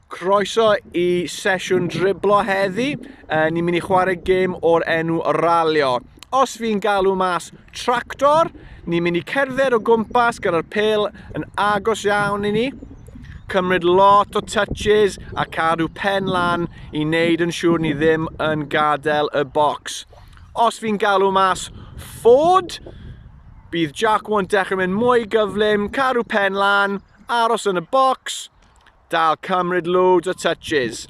Croeso i sesiwn driblo heddi. Uh, ni'n mynd i chwarae gêm o'r enw ralio. Os fi'n galw mas tractor, ni'n mynd i cerdded o gwmpas gyda'r pel yn agos iawn i ni. Cymryd lot o touches a cadw pen lan i wneud yn siŵr ni ddim yn gadael y bocs. Os fi'n galw mas Ford, bydd Jack Warren dechrau mynd mwy gyflym, cadw pen lan, Aros yn y bocs, dal cymryd loads o touches.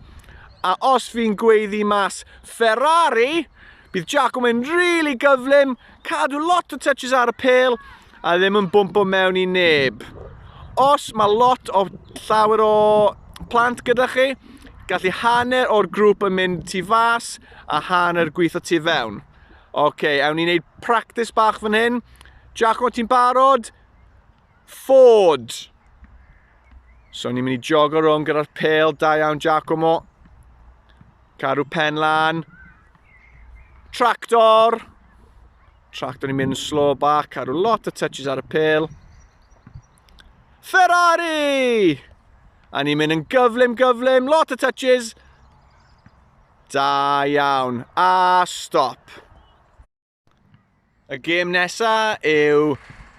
A os fi'n gweiddi mas Ferrari, bydd Jack yn mynd really gyflym, cadw lot o touches ar y pel a ddim yn bwmpo mewn i neb. Os mae lot o llawer o plant gyda chi, gallu hanner o'r grŵp yn mynd tu fas a hanner gweithio tu fewn. Oce, okay, awn ni'n neud practis bach fan hyn. Jack, o ti'n barod? Ford. So ni'n mynd i jogo rhwng gyda'r pel, da iawn Giacomo. Cadw pen lan. Tractor. Tractor ni'n mynd yn slow back, cadw lot o touches ar y pel. Ferrari! A ni'n mynd yn gyflym, gyflym, lot o touches. Da iawn. A stop. Y gêm nesa yw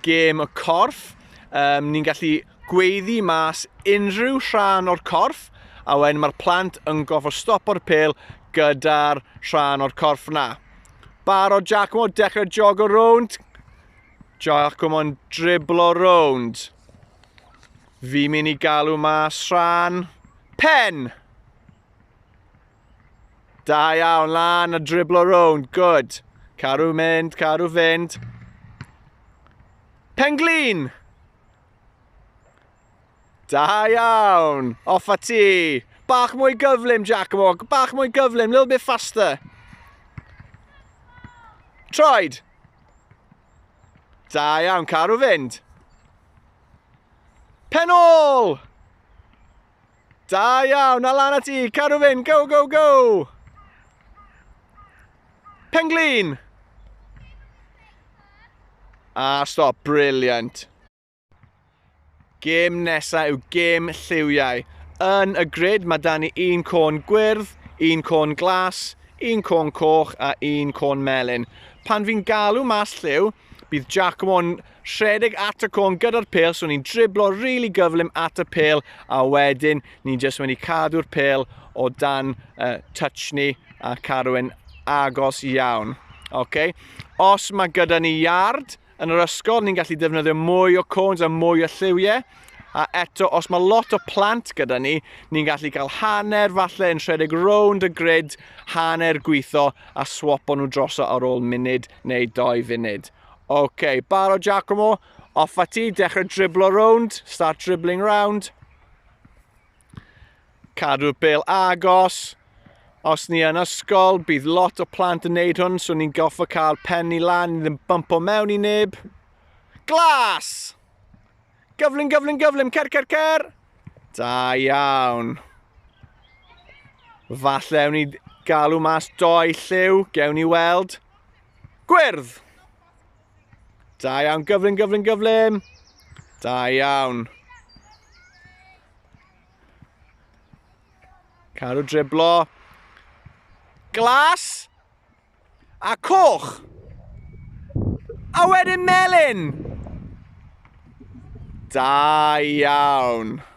gêm y corff. Um, ni'n gallu gweiddi mas unrhyw rhan o'r corff a wedyn mae'r plant yn gofo stopo'r pel gyda'r rhan o'r corff na. Baro Giacomo, dechrau jog o rownd. Giacomo'n driblo rownd. Fi'n mynd i galw mas rhan pen. Da iawn, lan a driblo rownd, good. Caru mynd, caru fynd. Penglin! Da iawn, off a ti. Bach mwy gyflym, Giacomo, bach mwy gyflym, little bit faster. Troed! Da iawn, caru fynd. Penol! Da iawn, a lan ati, cadw fynd, go, go, go! Penglin! A stop, briliant. Gêm nesaf yw gêm lliwiau. Yn y grid mae dan ni un côn gwyrdd, un côn glas, un côn coch a un côn melyn. Pan fi'n galw mas lliw, bydd Giacomo'n rhedeg at y côn gyda'r pel, so ni'n driblo rili really gyflym at y pel, a wedyn ni'n jyst wedi cadw'r pel o dan uh, touch ni a cadw yn agos iawn. Okay. Os mae gyda ni yard yn yr ysgol, ni'n gallu defnyddio mwy o cones a mwy o lliwiau. A eto, os mae lot o plant gyda ni, ni'n gallu cael hanner falle yn rhedeg rownd y grid, hanner gweithio a swapo nhw droso ar ôl munud neu doi funud. Ok, barod Giacomo, off a ti, dechrau driblo rownd, start dribbling round. Cadw'r bel agos, os ni yn ysgol, bydd lot o plant yn neud hwn, so ni'n goffa cael pen ni lan, ddim bump o mewn i neb. Glas! Gyflym, gyflym, gyflym, cer, cer, cer! Da iawn. Falle ewn ni galw mas doi lliw, gewn ni weld. Gwyrdd! Da iawn, gyflym, gyflym, gyflym. Da iawn. Cadw driblo. Glas. A coch. A wedyn melyn. Da iawn.